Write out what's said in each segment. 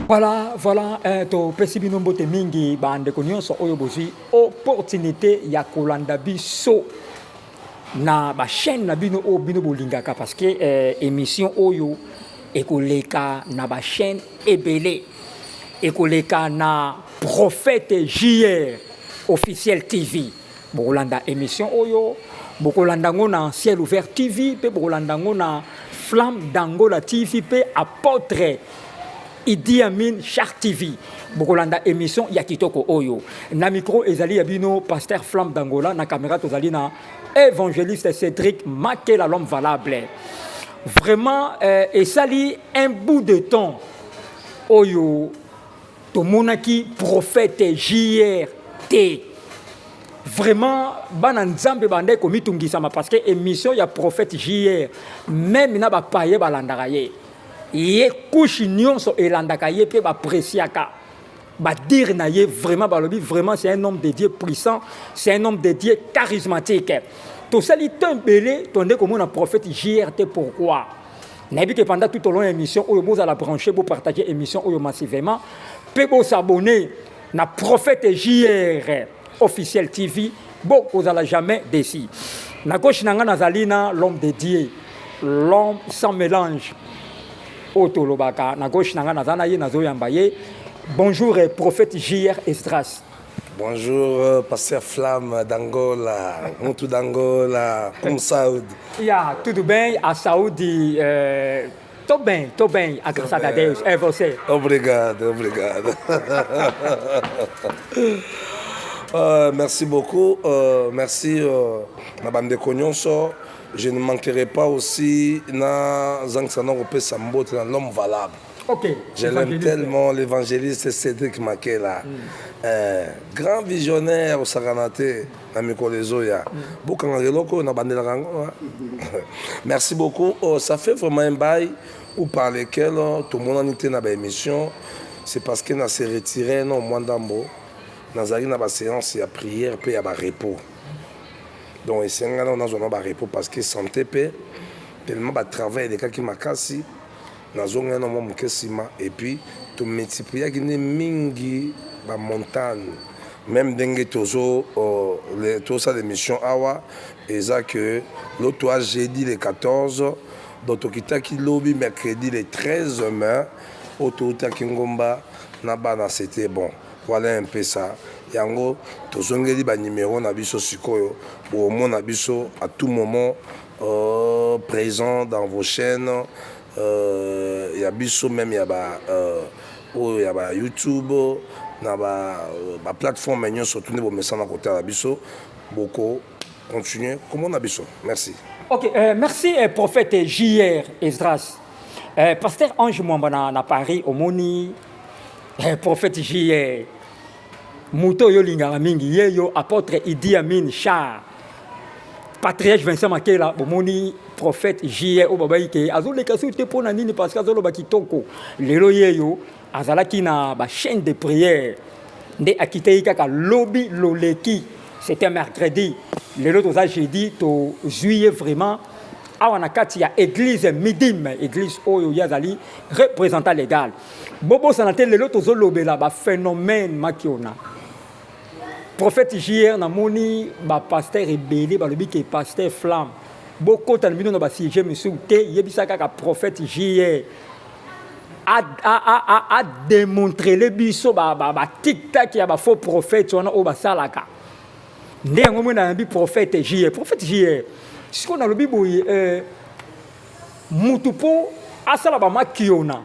Voilà, voilà, eh, topesi bino mbote mingi bandeko nyonso oyo bozwi opportunité ya kolanda biso na bachaîne na bino oyo bino bolingaka parce que eh, émission oyo ekoleka na bachaîne ebele ekoleka na prophète jr officiel tv bokolanda émission oyo bokolanda yango na ciel ouvert tv mpe bokolanda yango na flamme d'angola tv mpe apotre idi amin char tv bokolanda émission ya kitoko oyo na micro ezali ya bino pasteur flamme d'angola na caméra tozali na évangéliste cédric makela l'homme valable vraiment euh, esali un bout de temps oyo tomonaki prophète JR te vraiment bana nzambe bandaki komitungisama parce que émission ya prophète JR meme na bapaye balandaka ye ye kushe nyonso elandaka ye mpe bapreciaka badire na ye vraiment balobi vraiment c'est un homme de dieu puissant c'est un homme de dieu charismatique tosali temps ebele tonde komona prophète JR te pourquoi nayebi ke pendant tout au long ya émission oyo bozala branche bopartage émission oyo massivement mpe bosabone na prophète jr officiel tv bokozala jamais desi na gauche na ngai nazali na l'homme de dieu l'homme sans mélange oyo tolobaka na gauche na ngai naza na ye nazoyamba ye bonjour prophète jr estras Bonjour, euh, Pasteur Flamme d'Angola, Moutou d'Angola, comme Saoud. Ya, tudo bem, a saúde. Eh, tô bem, tô bem, agraçado a Deus. É você. Obrigado, obrigado. Euh, merci beaucoup. Euh, merci, euh, ma bande de Cognonso. Je ne manquerai pas aussi na Zang Sanong Pesa Mbote, l'homme valable. Okay. Je l'aime tellement, l'évangéliste Cédric Makela. Mm. Euh, grand visionnaire osakana te na mikolo ezoya mm. bokangaka eloko oyo nabandelaka yango merci beaucoup oh, ça fait vraiment un bail ou par lequel oh, tomonani te na baémission c'est parce que na se retire no mwa ndambo nazalaki na baséance ya prière mpe ya barepos donc esengana nazwa na barepos parce que santé mpe tellement batravail elekaki makasi nazongi wana mwa moke nsima epuis tomultipliaki nde mingi bamontagne meme ndenge tozo euh, tosala émission awa eza que loto a jeudi le 14 donc tokitaki lobi mercredi le 13 mai oyo toutaki ngomba na bana c'était bon voilà un peu ça yango tozongeli banimero na biso sikoyo bokomona biso à tout moment Oh, present dans vos chaînes euh, ya biso meme ya ba euh, oyo ya ba YouTube na ba, euh, ba plateforme nyonso tu nde bomesana kotala biso boko continuer komona biso merci ok euh, merci euh, prophète jr esdras euh, pasteur ange mwamba na, na paris omoni euh, prophète jr moto oyo olingaka mingi ye yo apôtre idi amin char patriarche vincent makela bomoni prophète jie oyo babaki ke azoleka soki te mpo na nini parce que azoloba kitoko lelo yeyo azalaki na bachaîne de prière nde akitaki kaka lobi loleki c'était mercredi lelo toza jeudi tozwi ye vraiment awa na kati ya église midim église oyo ye azali représentant légal bobosana te lelo tozolobela baphénomène makiona Prophète JR na moni ba pasteur ebele balobi ke pasteur flamme bokota na bino na ba sujet misusu te yebisa kaka prophète JR ademontrele biso batiktak ya bafaux prophète wana oyo basalaka nde yango mwe nayabi prophète JR prophète JR sikoyo nalobi boye euh, mutu mpo asala bamakiona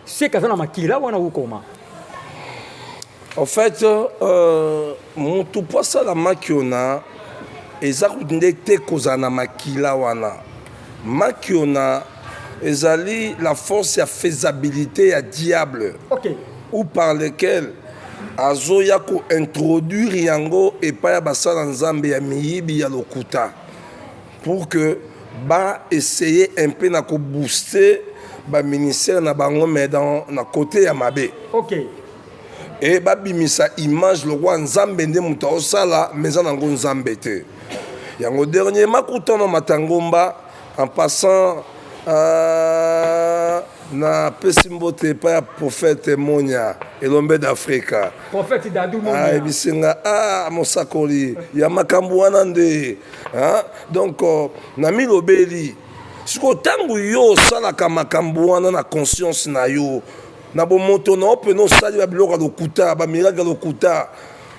Seka aza na makila wana ukoma. En fait, euh, mutu po asala makiona eza nde te kozala na makila wana. Makiona ezali la force ya faisabilité ya diable. Okay. Ou par lequel azoya kointroduire yango epai ya basala nzambe ya miyibi ya lokuta pour que ba essayer un peu na ko booster ba ministère na bango mais dans na côté ya mabe okay e babimisa image lokola nzambe nde moto aosala mais eza nango nzambe te yango dernier makutano matangomba en passant euh, Na pesi mbote epai ya prophète Monya elombe d'Africa. Prophète Dadou Monya. Ah, ebisenga ah mosakoli ya makambo wana nde. Hein? Donc euh, na milobeli siko tango yo osalaka makambo wana na conscience na yo na bomoto na yo mpena osali ba biloko ya lokuta ba miracle ya lokuta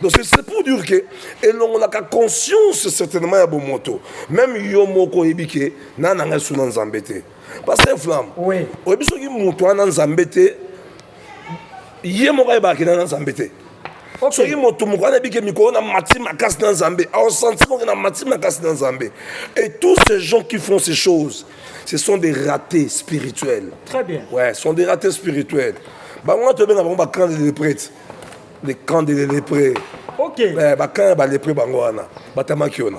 Donc c'est pour dire que elongolaka conscience certainement ya bomoto même yo moko oyebi ke na nanga esu na nzambe te pasteur flamme oui. oyebi soki moto wana nzambe te ye moko ayebaka kena na nzambe te okay. soki moto moko wana ebike mikolo na mati makasi na nzambe aosanti moke na mati makasi na nzambe et tous ces gens qui font ces choses ce sont des ratés spirituels très bien ouais sont des ratés spirituels bango wana tobenga bango bacrande de prêtre le camp de les lépreux ok eh, ba camp ya ba lépreux bango wana batamaki ona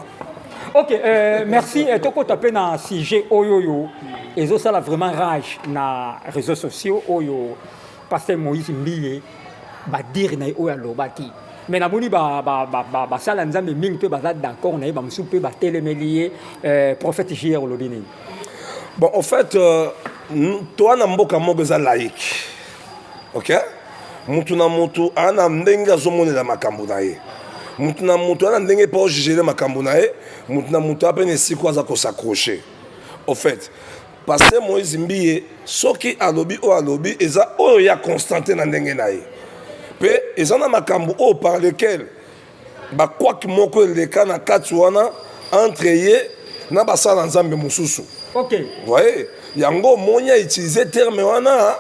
ok euh, merci eh, tokota mpe na sujet oyo oyo ezosala vraiment rage na réseaux sociaux oyo pasteur moïse mbiye badire na ye oyo alobaki mais namoni basala ba, ba, ba, ba nzambe mingi mpe baza d'accord na ye bamosusu mpe batelemeli ye euh, prophète jr olobi nini bon en fait euh, toa na mboka moko eza laïque ok moto na moto aa na ndenge azomonela makambo na ye moto na moto aa na ndenge mpo ojugele makambo na ye moto na moto aa mpe na esiko aza kosaccroche au fait paster moïse mbiye soki alobi oyo alobi eza oyo ya constante na ndenge na ye mpe eza na makambo oyo par lequel bakwaki moko eleka na kati wana entre ye na basala nzambe mosusu okay. voye yango omoni ya utilise terme wana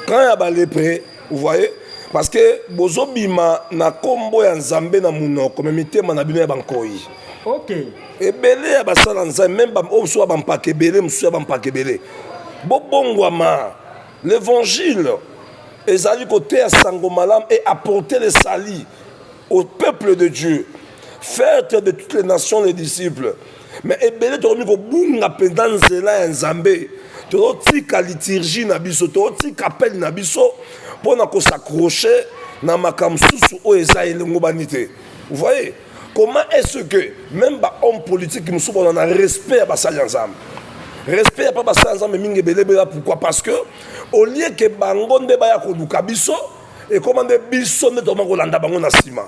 camp ya balepre voye parce que bozobima na nkombo ya nzambe na monoko me mitema na bino ya bankoi okay. ebele ya basala nzambe meme oyo mosusu ya bampaka ebele mosusu ya bampaka ebele bobongwama l'évangile ezali koteya sango malamu e apporter le salut au peuple de Dieu faites de toutes les nations les disciples mais ebele tokomi kobunga mpenza nzela ya nzambe tozotika liturgie na biso tozotika appel na biso mpo na kosakroche na makambo mosusu oyo eza elongobani te voyez comment est ce que même bahomme politique mosusu bazala na respect ya basali ya nzambe respect ya mpa basali ya nzambe mingi ebele ebela pourquoi parce que au lieu ke bango nde baya koluka biso ekoma nde biso nde tokoma kolanda bango na nsima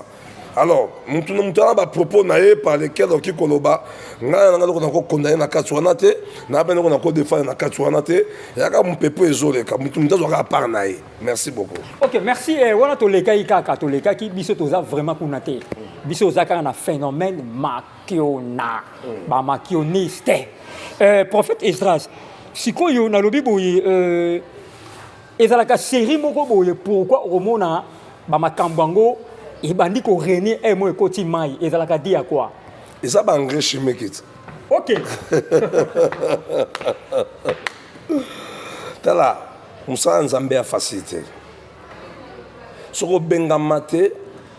alors motu na motu ana bapropos na ye par lequel okoki koloba ngai na ngai loko nakokonda ye na kati wana te na bene loko nakodefendre na kati wana te yaka mopepo ezoleka motu motu azwaka apart na ye merci beaucoup ok merci eh, wana tolekaki kaka tolekaki biso toza vraiment kuna te biso oza kaka na phénomène makiona mm. bamakioniste eh, prophète esdras sikoyo nalobi boye euh, ezalaka serie moko boye pourquoi okomona bamakambo yango ebandi korenie e eh, mo ekoti mai ezalaka di ya kwa eza baengrais chimique ti ok tala mosala nzambe ya fasili te soki obengama te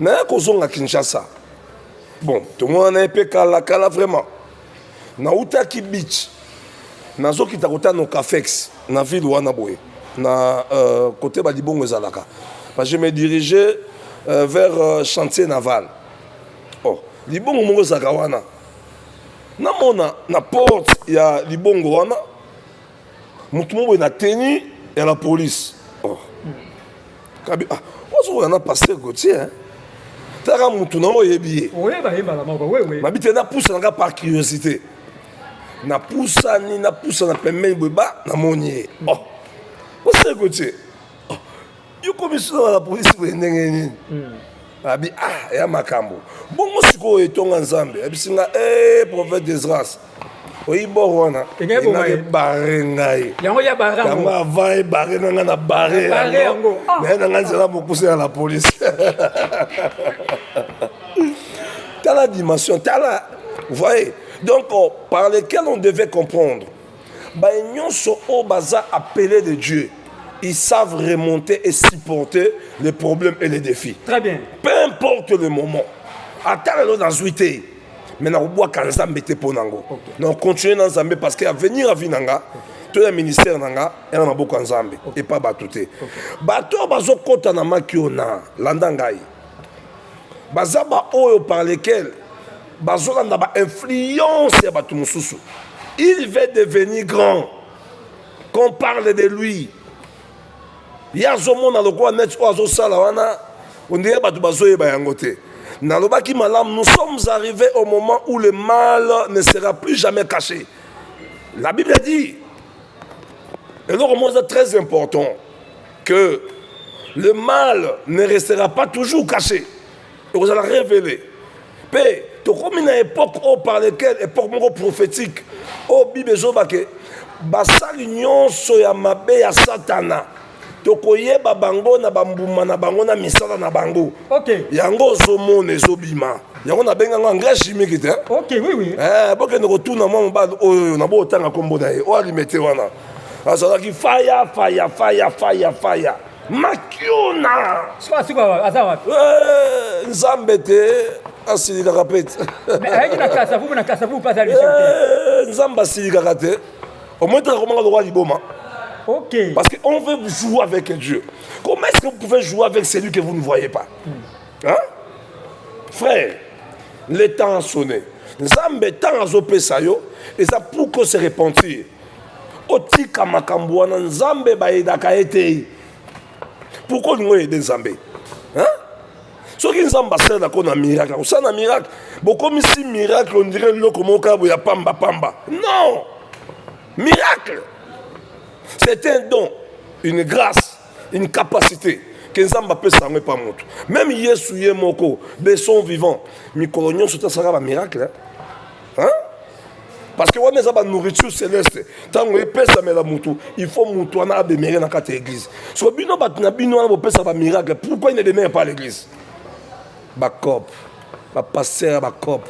naya kozonga kinshasa bon tomonana ye mpe kalakala vraiment nautaki beach nazokita kota no cafex na ville wana boye na euh, kote balibongo ezalaka je me dirigeais euh, vers euh, chantier naval oh, libongo moko ezalaka wana namona na porte ya libongo wana motu moboye na teni ya la police oh. kabi ah, ozokoya na paster gautier hein? taka motu nango oyebi ye mabi te napusa nanga par curiosité napusani napusa na pembeni boye ba namoni ye oh. paster gautier yo komisona la polisi boye ndenge nini hmm. abi ah ya makambo bongo sikoyo etonga nzambe abisi nga e prophète desgrace oyi bor wana ebare ngai yango avant ebare na ngai na bare yango ah. naye na ngai nzela mokuse ya la polisi tala dimension tala voye donc oh, par lequel on devait comprendre baye nyonso oyo baza appele de dieu ils savent remonter et supporter les problèmes et les défis très bien peu importe le moment ata lelo nazwi te mais nakobwaka nzambe te mpo nango okay. na continue na nzambe parce que avenir avi na nga okay. to ya ministère na nga ena maboko ya nzambe okay. epa bato te okay. bato oyo bazokɔta na maki oyo na landa ngai baza baoyo par lequel bazolanda ba influence ya bato mosusu il va devenir grand qu'on parle de lui ye azomona lokola neti oyo azosala wana ondire bato bazoyeba yango te nalobaki malamu nous sommes arrivés au moment où le mal ne sera plus jamais caché la bible dit eloko moko eza très important que le mal ne restera pas toujours caché ekozala révélé mpe tokomi na époque oyo par lequel époque moko prophétique oyo bible ezoba ke basali nyonso ya mabe ya satana tokoyeba bango na bambuma na bango na misala na bango okay. yango ozomona ezobima yango nabenga yango engrais chimique te okay, oui, oui. Eh, bokende kotuna mwa mobali oyo na bootanga nkombo na ye oyo alimete wana azalaki faya faya faya faya faya makiona eh, nzambe te asilikaka mpe te eh, nzambe asilikaka te omoi teka komaka lokola liboma Ok. Parce qu'on veut jouer avec Dieu. Comment est-ce que vous pouvez jouer avec celui que vous ne voyez pas hmm. hein? Frère, le temps a sonné. Nzambe, temps a zopé ça yo, et ça pour que se repentir. otika makambo wana nzambe bayedaka ye te pourkui olingi oyede nzambe soki nzambe asalaka ko na miracle akosala na miracle bokomisi miracle ondire eloko moko kaka boya pamba pamba non miracle c'est un don une grâce une capacité ke nzambe apesa yango epa moto meme yesu ye moko de son vivant mikolo nyonso te asalaka bamiracle hein? parce que wana eza ba nourriture céleste ntango epesamela motu il faut motu wana ademere na kati ya église so bino bato na bino wana bopesa ba miracle pourquoi il ne demere pas l'église bacope bapaster ya bacope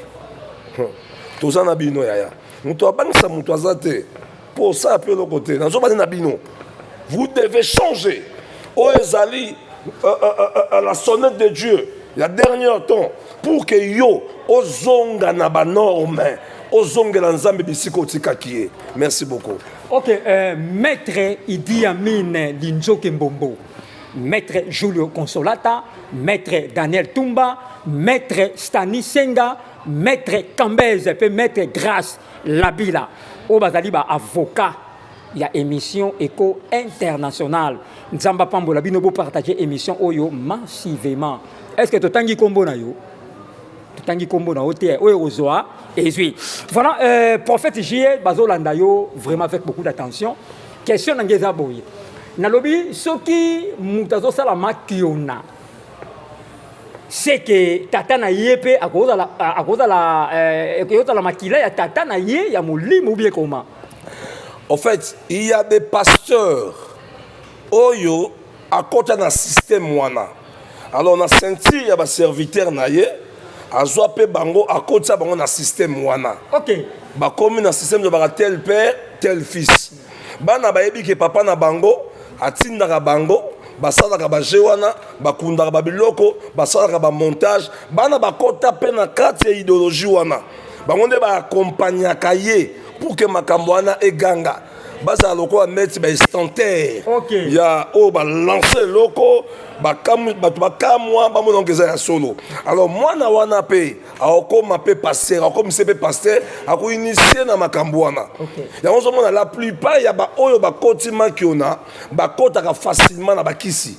toza na bino yaya moto abangisa moto aza te Pour ça, peu le côté. Nazo bande na bino. Vous devez changer. Oh, ezali euh, euh, euh, euh, la sonnette de Dieu. La dernière temps pour que yo ozonga na ba norme ozongela nzambe bisika otikaki ye merci beaucoup ok euh, maître idi amine linzoke mbombo maître julio consolata maître daniel tumba maître stani senga maître cambese mpe maître grace Labila oyo bazali ba avocat ya émission Eco International. Nzambe apambola bino bo partager émission oyo massivement. Est-ce que totangi kombo na yo? Totangi kombo na yo te oyo ozwa ezwi. Voilà euh, prophète JE bazolanda yo vraiment avec beaucoup d'attention. Question na ngeza boye. Nalobi soki moto azosala makiona seke tata na ye mpe akozala akozala eh, ekozala makila ya tata na ye ya molimo bie koma en fait il y a des pasteurs oyo akota na système wana alors na ceinture ya baserviteur na ye azwa mpe bango akotisa bango na système wana okay. bakomi na système lobaka tel père tel fils bana bayebi ke papa na bango atindaka bango basalaka baje wana bakundaka babiloko basalaka bamontage bana bakota mpe na kati ya ideologie wana bango nde baakompagnaka ye pour ke makambo wana eganga bazala lokola neti baestantere okay. ya oyo oh, balanse eloko bato bakamwa bamonango eza ya solo alors mwana wana mpe akokoma mpe pasteur akomise mpe pasteur akoinitie na makambo wana yango ozomona la plupart ya baoyo bakoti makiona bakotaka facilement na bakisi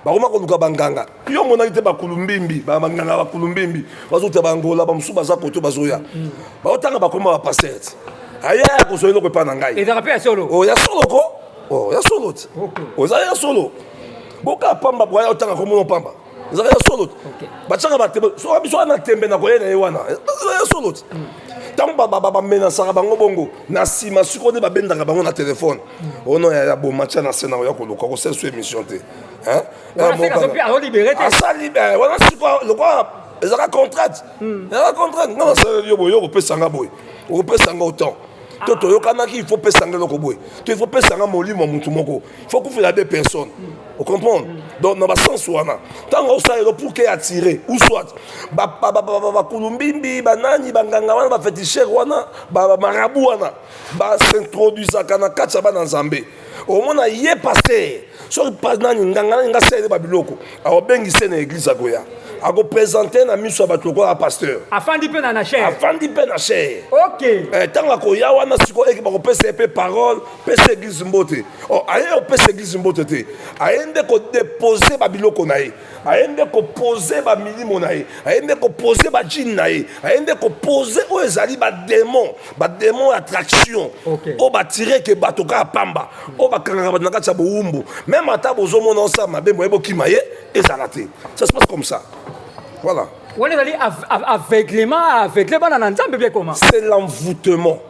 bakoma koluka banganga yo omonaki te bakulumbimbi banganga bakulumbimbi bazouta bangola bamosusu baza koto bazoya mm. baotanga bakoma bapasteur ti aya akozwa eloko epai na ngai ezaka mpe ya solo oh, ya solo ko oh, ya solo ti oza ya solo boka pamba bwaya otanga komona pamba ezalaka ya solo batyaka batembe soka biso wana tembe na koyena ye wana ezalaka ya solo ti ntango bamenasaka bango bongo na nsima sikoyo nde babendaka bango na telefone ono yaya bomatya na se na oya koluka kosala so émission te asali wana sikoyo lokola ezalaka contrainte hmm. ezalaka contrainte nga nasaleli yo boye yo kopesa nga boye okopesa nga autant to toyokanaki il faut pesa nga eloko boye to il faut pesa nga molimo ya motu moko faut kufela be personne o comprendre donc na basense wana ntango osala elo pour ke attire ou soit bakulumbimbi banani banganga wana bafetishere wana bamarabu wana basintroduisaka na kati ya bana nzambe omona ye paster soki nani nganga nani nga sele babiloko aobengi se na eglise akoya akopresente na miso ya bato lokola pasteur afandi mpe na na chaire afandi mpe na chaire ok ntango eh, akoya wana sikoyo eke bakopesa ye mpe parole pesa eglise mbote oh, aye opesa eglise mbote te aye nde kodepose babiloko na ye aye nde kopose bamilimo na ye aye nde kopose bajine na ye aye nde kopose oyo ezali bademon bademon attraction okay. oyo batireke bato kaka pamba oyo bakangaka bato na kati ya bowumbu meme ata bozomona osala mabe moye bokima ye ezala te ça se passe comme ça voilà wana ezali aveuglement aveugle bana na nzambe bie koma c'est l'envoûtement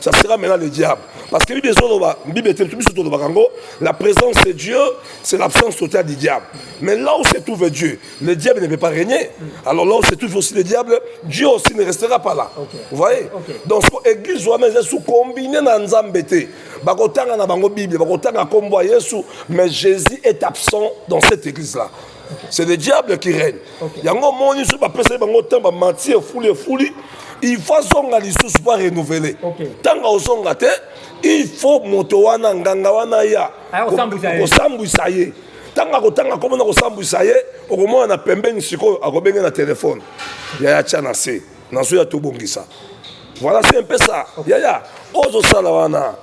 ça sera maintenant le diable parce que bible ezoloba bible ete biso tolobaka yango la présence de dieu c'est l'absence totale du diable mais là où se trouve dieu le diable ne peut pas régner alors là où se trouve aussi le diable dieu aussi ne restera pas là okay. vous voyez okay. donc so église wana eza sous combine na nzambe te bakotanga na bango bible bakotanga nkombo ya yesu mais jésus est absent dans cette église là c'est le diable qui règne yango omoni soki bapesaki bango ntango bamati efuli efuli il faut azonga lisusu po arenouvele ntango ozonga te il faut moto wana nganga wana ya kosambwisa ye ntango akotanga komona kosambwisa ye okomona na pembeni sikoyo akobenge na telefone yaya tya na se nazoya tobongisa voilà se mpesa yaya ozosala wana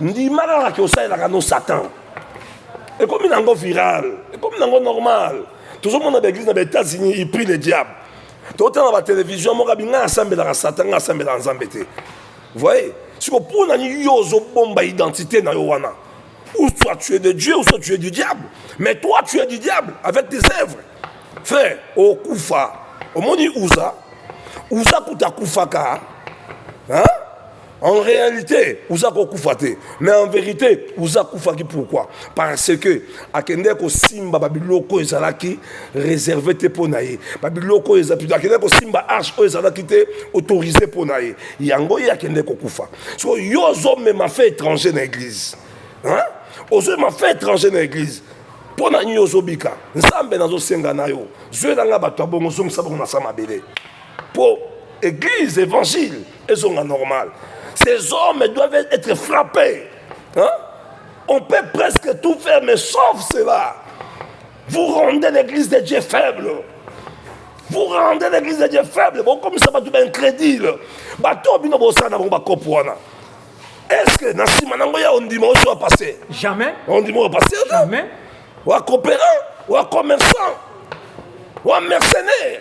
ndima kaka ke osalelaka no satan ekomi na yango viral ekomi na yango normal tozomona baeglise na baétats-unis il prie le diable totala na batelevizio moko abi ngai asambelaka satan ngai asambelaka nzambe te voye siko mpo na nini yo ozobomba identité na yo wana ou soit tu es de dieu ou soit tu es du diable mais toi tu es du diable avec tes œuvres frère okufa omoni uza uza kuta akufaka hein? En réalité, uza kokufa te. Mais en vérité, uza kufaki pourquoi Parce que akende ko simba babiloko ezalaki réservé te pour naye. Babiloko eza plutôt akende ko simba arche oyo ezalaki te autorisé pour naye. Yango ye akende ko kufa. So yo zo mema fait étranger na église. Hein? Ozo mema fait étranger na église. Mpo na nini ozobika nzambe nazosenga na yo zwelanga bato ya bongo zongisa bongo na sa mabele mpo église évangile ezonga normal ces hommes doivent être frappés hein? on peut presque tout faire mais sauf cela vous rendez l'église de Dieu faible vous rendez l'église de Dieu faible bokomisa bato baincrédule bato oyo bino bosala na bango bakopo wana est-ce que na nsima nango ya ondima osi wa passe jamais ondima wa passe jamais wa coopérant wa commerçant wa mercenaire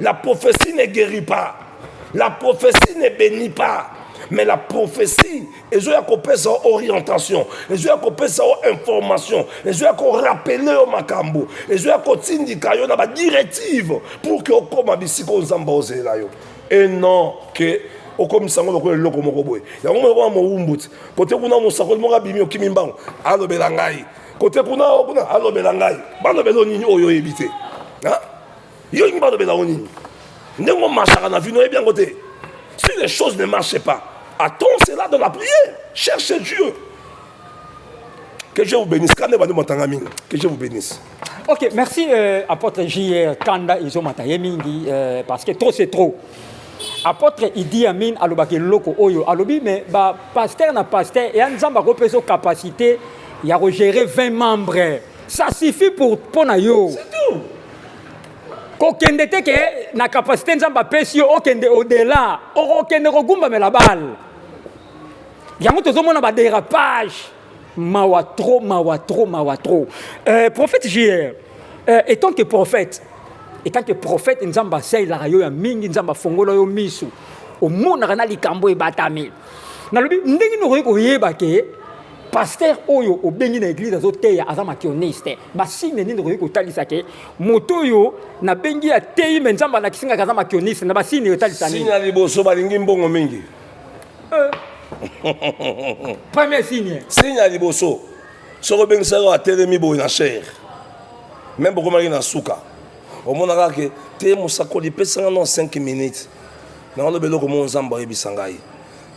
La prophétie ne guérit pas. La prophétie ne bénit pas. Mais la prophétie, ils ont kopesa orientation, ils ont kopesa information, ils ont rappeler au makambo, ils ont kotindika yo na ba directive pour que okoma bisika nzamba ozela yo. Et non que okomisa yango lokola eloko moko boye yango moko mowumbuti kote kuna mosakoli moko abimi okimi mbango alobela ngai kote kuna o kuna alobela ngai balobela yo nini oyo oyebi te yo olingi balobela yo nini ndenge omasaka na vino oyebi yango te si les choses ne marchent pas attends cela dans la prière cherche dieu que je vous bénisse kanda ebandi matanga mingi que je vous bénisse ok merci euh, apôtre jr kanda ezomata ye mingi euh, parce que trop c'est trop apôtre idi amin alobaki eloko oyo alobi me bapaster na paster eya nzambe akopesa capacité ya ko gérer 20 membres ça suffit pour mpo na yo kokende te ke na capacité nzambe apesi yo okende odela okokende kogumbamela bale yango tozomona badérapage mawa trop mawa trop mawa trop euh, prophète jr euh, étant que prophète étant que prophète nzambe asalelaka yo ya mingi nzambe afongola yo miso omonaka na likambo ebatami nalobi ndenge nini okoki koyeba ke pasteur oyo obengi na eglise azoteya aza makioniste basigne nini okoki kotalisa ke moto oyo nabengi ateyi me nzambe alakisi ngaka aza makioniste na basigne otalisa nini ya liboso balingi mbongo mingi euh. premier signe signe ya liboso soki obengisaki oyo atelemi boye na chere meme bokomaki na suka omonaka ke te mosakoli pesanga na 5 minutes naoloba eloko mo nzambe ayebisa ngai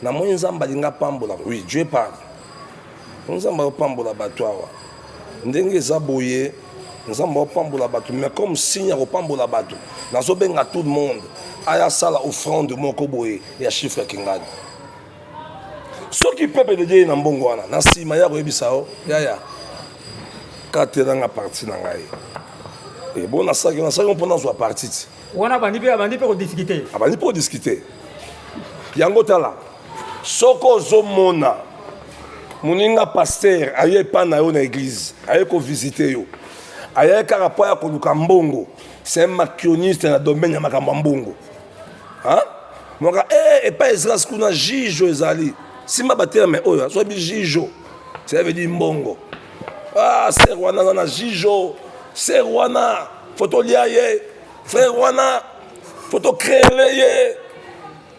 Na moni nzambe alinga pambola oui Dieu parle. Nzambe ayopambola bato awa ndenge eza boye nzambe opambola bato mais comme signe ya kopambola bato nazobenga tout le monde aya sala offrande moko boye ya chiffre ya kingani soki pepe de dieu na mbongo wana na nsima ya koyebisa yo yaya katelanga parti na ngai ebo eh, nasalaki nasalaki mpo nazwa parti ti wana abandi mpe abandi mpe kodiscute abandi mpe kodiscute yango tala soki ozomona moninga paster aye epai na yo na eglize aye kovisite yo aye kaka mpo ya koluka mbongo c'est un makioniste na domaine ya makambo ya mbongo moka e eh, epai ezras kuna jijo ezali simba baterme oyo azwabi jijo cela veut dire mbongo ah ser wana aza na jijo ser wana fotolia ye frère wana faut to créer ye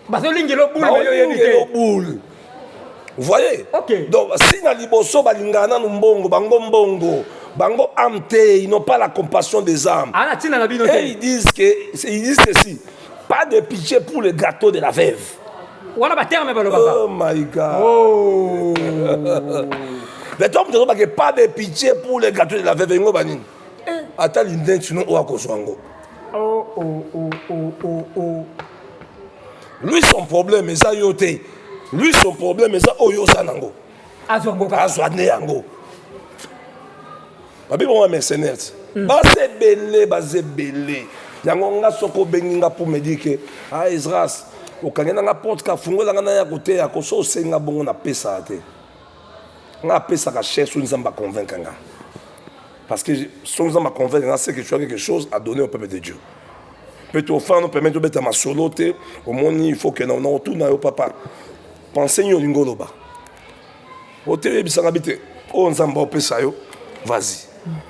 bazolingela obule yo yebi te obule voyez okay. donc si na liboso balingaka nanu mbongo bango mbongo bango ame te ils n'ont pas la compassion des âmes ah, et ils disent que ils disent ceci pas de pitié pour le gâteau de la veuve wana baterme balobaka oh my god oh. mais tom tozobake pas de pitié pour le gâteau de la veuve yango banini Eh, ata lindensi no oyo akozwa yango oh, oh, oh, lui son problème eza yo te lui son problème eza oyo oza nango azwa nde yango babi bongo mercenaires hmm. baza ebele baza ebele yango nga soki obengi nga mpo medi ke a ah, esras okangi na nga porte kafungola nga naya koteya koso osengi nga bongo napesa te nga apesaka chair soki nzambe aconvaincre nga parce que soki nzambe aconvaincre nga c'est que tu as quelque chose à donner au peuple de dieu mpe tofana nopermettre obeta masolo te omoni il faut ke na otuna yo papa pense nini olingi oloba otelebisanga bi te oyo nzambe opesa yo vas-y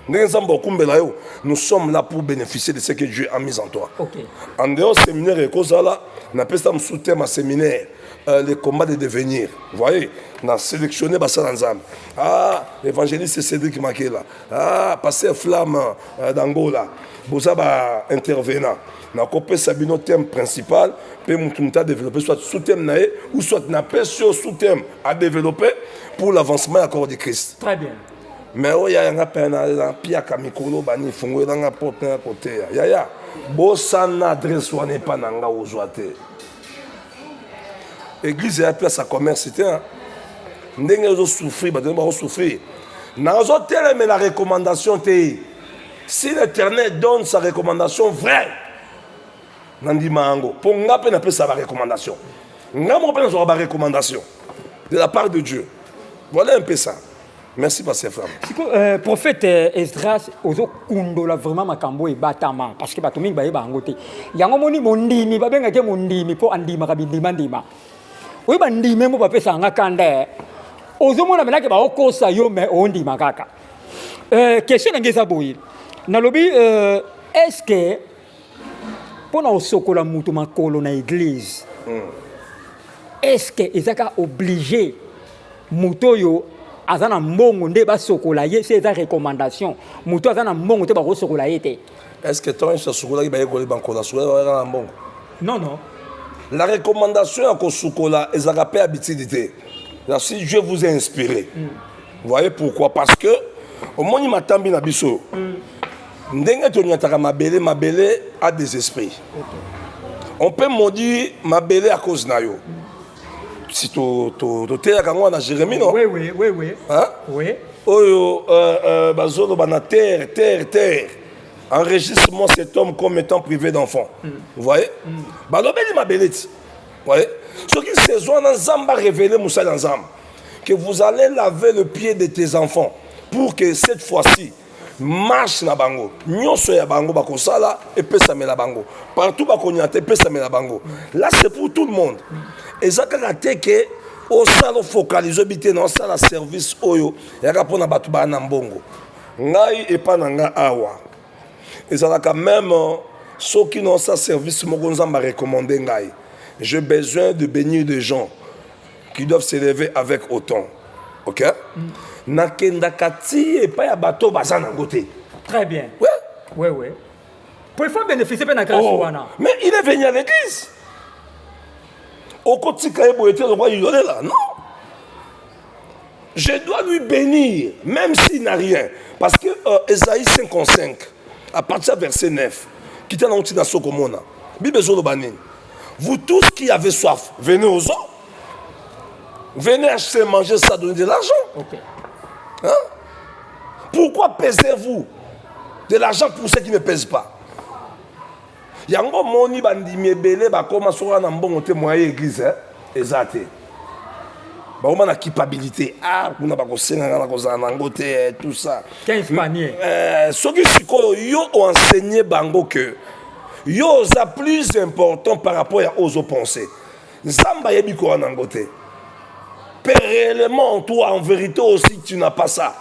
ndenge nzambe akumbela yo nous sommes là pour bénéficier de ce que dieu a mis en toi okay. en dehors séminaire ekozala napesa mosusu te ma séminaire euh, les combats de devenir voyez na sélectionné basala nzambe ah évangéliste cédric makela ah pasteur flamme euh, d'angola boza baintervenant nakopesa bino thème principal mpe motu motu adéveloppe soit sous thème na ye ou soit napesi yo sous thème adéveloppe pour l'avancement ya corps de christ très bien me oyo yaya nga mpe na piaka mikolo bani fungolela nga porte na ya koteya yaya bosana adresse wana epa na nga ozwa te eglize ya place ya commerce te ndenge ozosouffrir bato ndenge bakosouffrir nazotelemela recommandation te si l'éternel donne sa recommandation vraie nandima yango mpo nga mpe napesa barecommandation nga moko mpe nazwaka barecommandation de la part de dieu voilà un peu ça merci pasteur fram sikoyo euh, prophète euh, esdras ozokundola vraiment makambo oyo ebatama parce que bato mingi bayeba yango te yango moni mondimi babengaki mondimi mpo andimaka bindimandima oyo bandime mpo bapesaka nga kanda eh. ozomona menake baokosa yo me ondima kaka euh, question na nge eza boye nalobi est ce que mpo na kosokola moto makolo na eglize hmm. eske eza ka oblige moto oyo aza na mbongo nde basokola ye se eza recommandation moto aza na mbongo te bakosokola ye te eske ntango nyonso asukolaki bayekoli bankolo asukolaki bayaka na mbongo non non la recommandation ya kosukola ezalaka mpe habitude te si dieu vous a inspiré mm. voyez pourquoi parce que omoni matambi na biso mm. ndenge tonyataka mabele mabele a des esprits on peut maudire mabele à cause na yo si toteyaka yango na jérémie no oui, oui, oui, oui. Hein? Oui. oyo euh, euh, bazoloba na terre terre terre enregistrement cet homme comme étant privé d'enfant mm. vous voyez mm. balobeli mabele ti voyez soki saison wana nzambe arévele mosali ya nzambe que vous allez laver le pied de tes enfants pour que cette fois-ci marche na bango nyonso ya bango bakosala epesamela bango partout bakonyata epesamela bango là c'est pour tout le monde eza kaka te ke osala ofocalize obi te na osala service oyo yaka mpona bato baa na mbongo ngai epa na ngai awa ezalaka meme euh, soki na osala service moko nzambe arecommande ngai je besoin de bénir des gens qui doivent s'élever avec autant ok mm. nakendaka ti epai ya bato baza nango te très bien ouais. Ouais, ouais. po il faut bénéficie mpe na grâce oh. wana mais il est venu à l'église okotika ye boye te lokwa yolela non je dois lui bénir même s'il n'a rien parce que euh, esaïe 55 à partir ya verset 9 kita nango ntina sokomona bible ezoloba nini Vous tous qui avez soif, venez aux eaux. Venez acheter, manger ça, donner de l'argent. Okay. Hein? Pourquoi pesez-vous de l'argent pour ceux qui ne pèsent pas yango moni bandimi ebele bakoma soka na mbongo te moye église hein? eza te bakoma na culpabilité ah kuna bakosenga nga nakozala na yango te eh, tout ça euh, soki sikoyo yo oenseigne bango que yo oza plus important par rapport ya oyo ozopense nzambe ayebi koya na yango te mpe réellement toi en vérité aussi tu n'as pas ça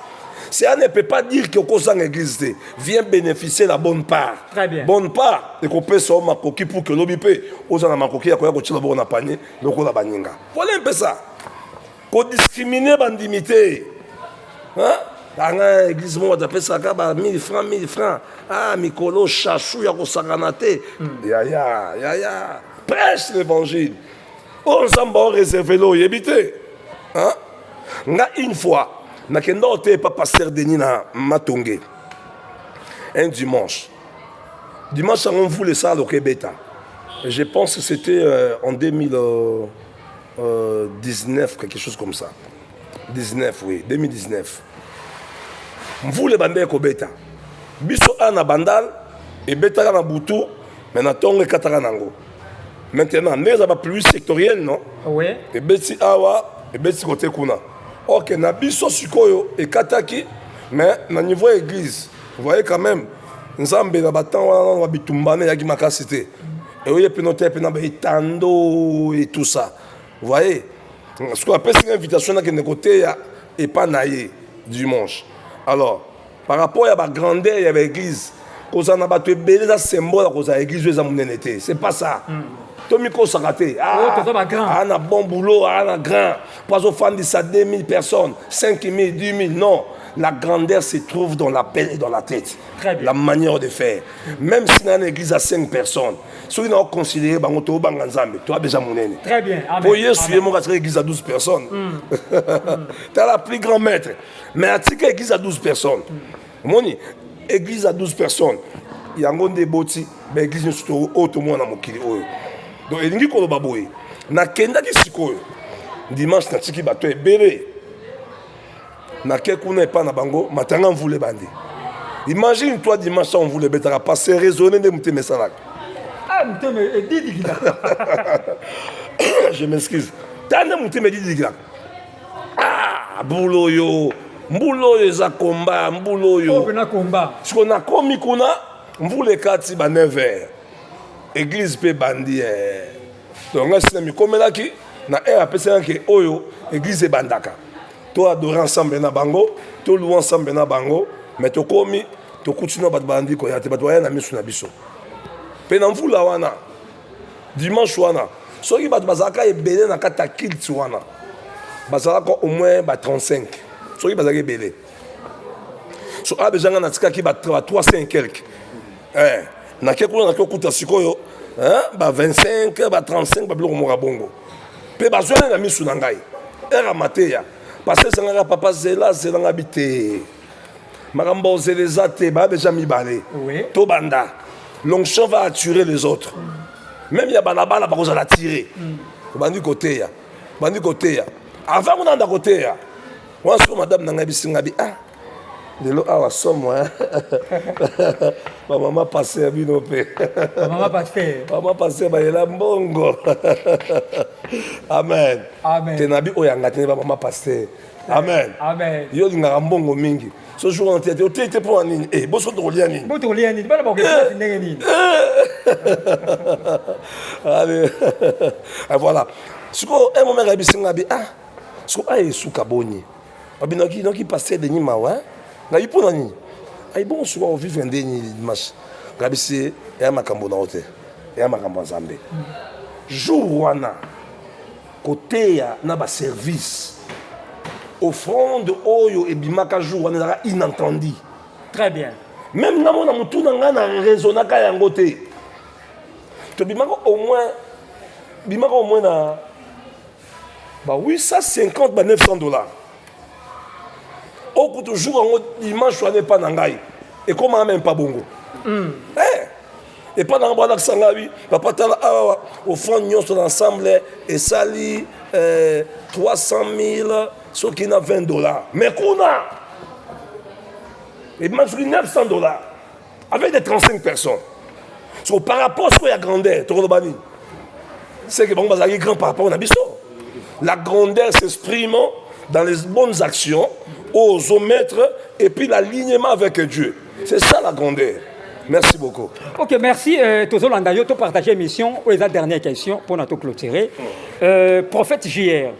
cela ne peut pas dire que okozanga église te vient bénéficier la bonne part Très bien. bonne part ekopesa yo makoki pour que lobi mpe oza na makoki ya koya kotyela boko na panier lokola baninga pole mpesa kodiscrimine bandimi te anga eglise moko atapesaka ba 1000 francs 1000 francs ah mikolo chachou ya kosakana te hmm. yaya yaya prêche l'évangile oyo oh, nzambe aoreserve lo oyebi te nga une fois nakendao te epa paster denis na matonge un dimanche Dimanche yango mvula esaloka ebeta. Je pense que c'était euh, en 2019, euh, euh, quelque chose comme ça. 19, oui, 2019. Mvula ebanda ekobeta. Biso a na bandal ebetaka na butu mais na ntongo ekataka nango. Maintenant, nde eza bapluie sectorielle non? Oui. Ebeti awa, ebeti kote kuna. Ok, na biso sikoyo ekataki mais na niveau ya église Vous voyez quand même, Nzambe na batemps wana na bitumbana eyaki makasi te. Eoye pino te pina ba etando et tout ça. Vous voyez? Ce qu'on appelle une invitation na kende côté ya et pas naïe dimanche. Alors, par rapport à la grandeur ya l'église, koza na bato ebele eza symbole ya kozala église oyo eza monene te c'est pas ça mm. tomikosaka te aa ah, ah, na bon boulot aa ah, na grand mpo azofandisa 2000 personnes 5000 10000 non La grandeur se trouve dans la peine et dans la tête. Très bien. La manière de faire. Même si dans une église à 5 personnes, ceux qui ont considéré bango to banga nzambe, toi déjà monene. Très bien. Amen. Pour Yesu yemo ka église à 12 personnes. Mm. tu as la plus grand maître. Mais à tika église à 12 personnes. Mm. Moni église à 12 personnes. Yango nde boti, ba église nyoso to o to mona mokili oyo. Donc elingi koloba boye. Nakendaki sikoyo. Dimanche natiki bato ebele. nake kuna epai na bango matanga mvula ebandi imagine toi dimanche a mvula ebetaka pase raisonne nde motema esalaka ah, motema edidikilaka je m'excuse ta nde motema edidikilaka ah, bula oyo mbula oyo eza komba mbula oyo siko nakomi kuna mvula ekati ba 9 heure eglise mpe ebandi eh. donc ngai sina mikomelaki na heure apesaka ke oyo eglise ebandaka to adore ensemble na bango to loue ensemble na bango mais tokomi tokuti na bato balandi koya te bato baya na miso na biso mpe na mvula wana dimanche wana soki bato bazalaka ebele na kati ya kilt wana bazalaka au moins ba 35 soki bazalaka ebele so awa bezanga natikaki ba 300 quelque eh, nake kuna nake okuta sikoyo eh, ba 25 ba 35 babiloko moka bongo mpe bazwani na misu na ngai ere mateya pase ezangaka papa zela zelanga bi te makambo ozela eza te baya deja mibale tobanda l'onction va attirer les autres même ya balabala bakozala attire mm. obandi koteya obandi koteya avant kuna anda koteya wana soko madame na ngai bisinga bi ah lelo awa somo bamama pase ya bino mpe bamama pase bayela mbongo amen te nabi oyo yanga te bamama pase amen yo olingaka mbongo mingi so jour wana te otei te mpo na nini eh, boso tokolia nini allez voilà sikoyo un moment akayebisi ngai bi ah sikoyo ayesuka boni babinaki noki pasteur denis mawa ngabi mpo na nini ayi bongo soki akovivre nde nini dimanche ngabi se eya makambo na yo te eya makambo ya nzambe jour wana koteya na baservice offrande oyo ebimaka jour wana ezalaka inentendi très bien meme nga mona motu na ngai na raisonnaka yango te tobimaka au moins bimaka au moins na Ba 850 ba 900 dollars. Okutu jour yango dimanche wana epa na ngai ekomaka meme pa bongo. Mm. Eh, epa na ngai balakisa ngai bi papa tala awa ofrande nyonso na ensemble esali eh, 300 000 soki na 20 dollars. Mais kuna ebima soki 900 dollars. avec des 35 personnes so par rapport sikoyo ya grandeur tokoloba nini seke bango bazalaki grand par rapport na biso la grandeur s'exprime dans les bonnes actions aux hommes maîtres et puis l'alignement avec Dieu c'est ça la grandeur merci beaucoup ok merci euh, tozolanda yo topartage émission oyo eza dernière question mpona toclôturer euh, prophète jr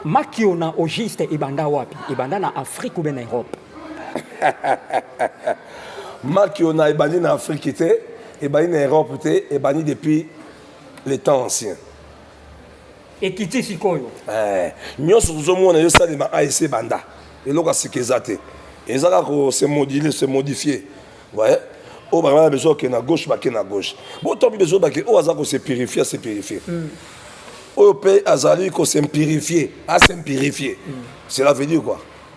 makiona au juste ebanda wapi ebanda na afrique ou bien na europe marque ona ebandi na afrique te ebandi na europe te ebandi depuis le temps ancien ekiti sikoyo eh, nyonso tozomona yo salema asc ebanda eloko asika eza te eza kaka kose modile se modifie ouais. oyo bangana na besoin okende na gauche bake na gauche bo tobi besoin bake oyo aza kose purifie ase purifie mm. oyo mpe azali kose purifie ase purifie mm. cela veut dire quoi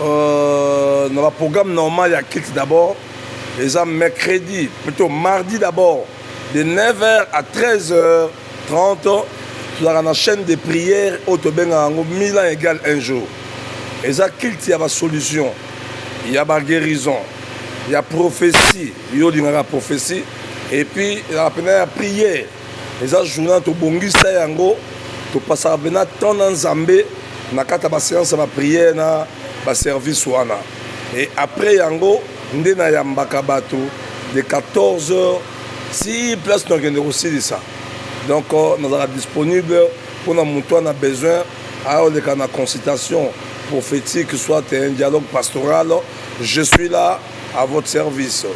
Euh, na ba programme normal ya kit d'abord eza mercredi plutôt mardi d'abord de 9h à 13h30 tozalaka na chaîne de prière oyo tobengaka yango milan égal un jour eza kilt ya basolution ya baguérison ya prophétie yo olingaka prophétie epuis ezalaka mpena ya prière eza journal tobongisa yango topasaka mpena temps na nzambe na kati ya baseance ya bapriere na baservice wana e après yango nde nayambaka bato de 14 heures si place nakende kosilisa donc euh, nazalaka disponible mpona moto wana besoin ayoleka na consultation prophétique soit un dialogue pastoral je suis là à votre service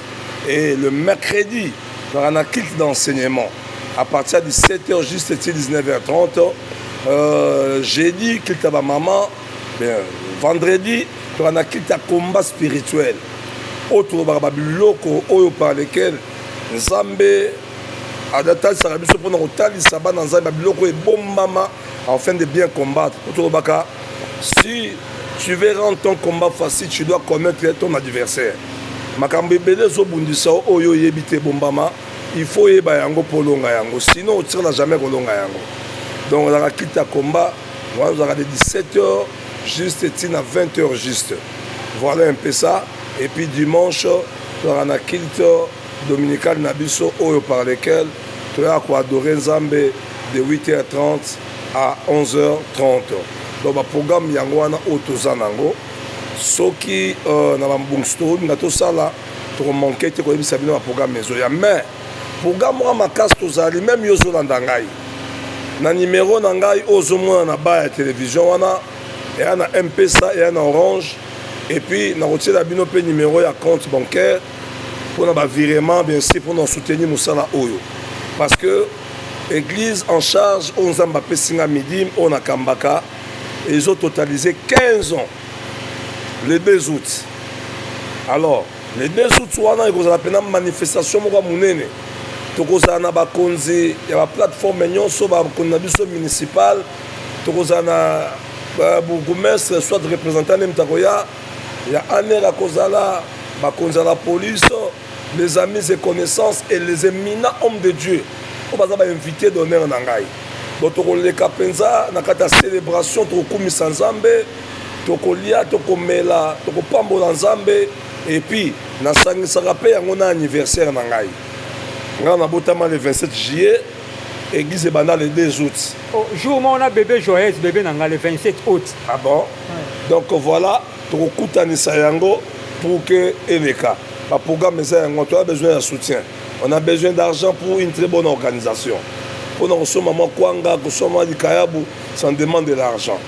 et le mercredi Ezalaka na kit d'enseignement à partir ya 17 heures juste ti 19 heures 30 euh, jeudi kit ya bamama vendredi tozalaka na kit ya combat spirituel oyo tolobaka babiloko oyo par lequel nzambe adatalisaka biso mpona kotalisa bana nzambe ya biloko ebombama Afin de bien combattre, Otobaka, si tu veux rendre ton combat facile, tu dois commettre ton adversaire. Makambo ebele ezobundisa oyo oyebi te bombama, il faut oyeba yango mpo olonga yango, sinon otikala jamais kolonga yango. Donc ozalaka kiti ya combat, wana ozalaka de 17 heures juste ntina 20 heures juste. Voilà un peu ça. Et puis dimanche, tozalaka na culte dominical na biso oyo par lequel toyaka koadore Nzambe de 8h30 à 11h30 donc baprogramme yango wana oyo toza na yango soki euh, na bambongisi tokolinga tosala tokomanke te koyebisa bino baprogramme ezoya mais programme wana makasi tozali meme yo ozolanda ngai na nimero na ngai oyo ozomona na ba ya televizio wana eya na mpesa eya na orange epuis nakotiela bino mpe nimero ya compte bancaire mpona bavirement bien sûr mpona soutenir mosala oyo parce que Eglise en charge oyo Nzambe apesi nga midim oyo nakambaka ezo totaliser 15 ans le 2 août. Alors le 2 août wana ekozala pena manifestation moko ya monene tokozala na bakonzi ya baplateforme nyonso bakonzi na biso municipal tokozala na euh, bourgoumestre soit représentant nde moto akoya ya aner akozala bakonzi ya la police les amis et connaissances et les éminents hommes de Dieu oyo baza ba invité d'honneur na ngai bo tokoleka mpenza na kati ya célébration tokokumisa nzambe tokolia tokomela tokopambola nzambe epuis nasangisaka mpe yango na anniversaire na ngai ngai nabotama le 27 juillet église ebanda le 2 août oh, jour moko na bebe joyeuse bebe na ngai le 27 août ah bon ouais. donc voilà tokokutanisa yango pour que eleka ba programme eza yango toya besoin ya soutien on a besoin d'argent pour une très bonne organisation mpo na kosomba mwa kwanga kosomba mwa likayabu ça en demande de l'argent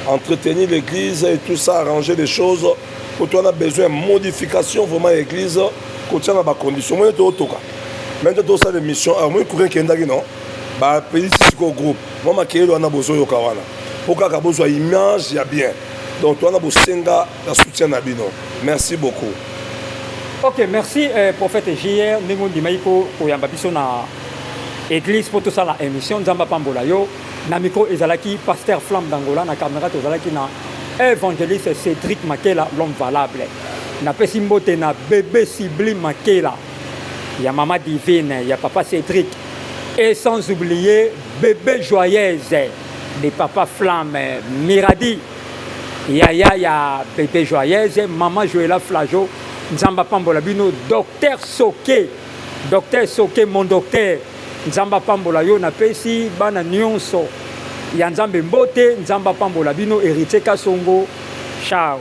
entretenir l'église et tout ça arranger les choses mpo to wana besoin modification vraiment ya église kotia na bacondition moni tootoka mai nde tosala émission awa moi kurin kendaki non bapelisi sikoyo groupe mwa makeyeli wana bozoyoka wana mpo kaka bozwa image ya bien donc towana bosenga na soutien na bino merci beaucoup ok merci eh, prophète jr ndenge ondimaki koyamba biso na église mpo tosala émission nzambe apambola yo na micro ezalaki pasteur flamme d'angola na camera tozalaki na évangéliste cédric makela l'homme valable napesi mbote na bebe sublime makela ya mama divine ya papa cédric et sans oublier bebe joyeuse de papa flamme miradi yaya ya bebe joyeuse mama joela flajo nzambe apambola bino docteur soke docteur soke mon docteur nzambe apambola yo napesi bana nyonso ya nzambe mbote nzambe apambola bino heritier kasongo chao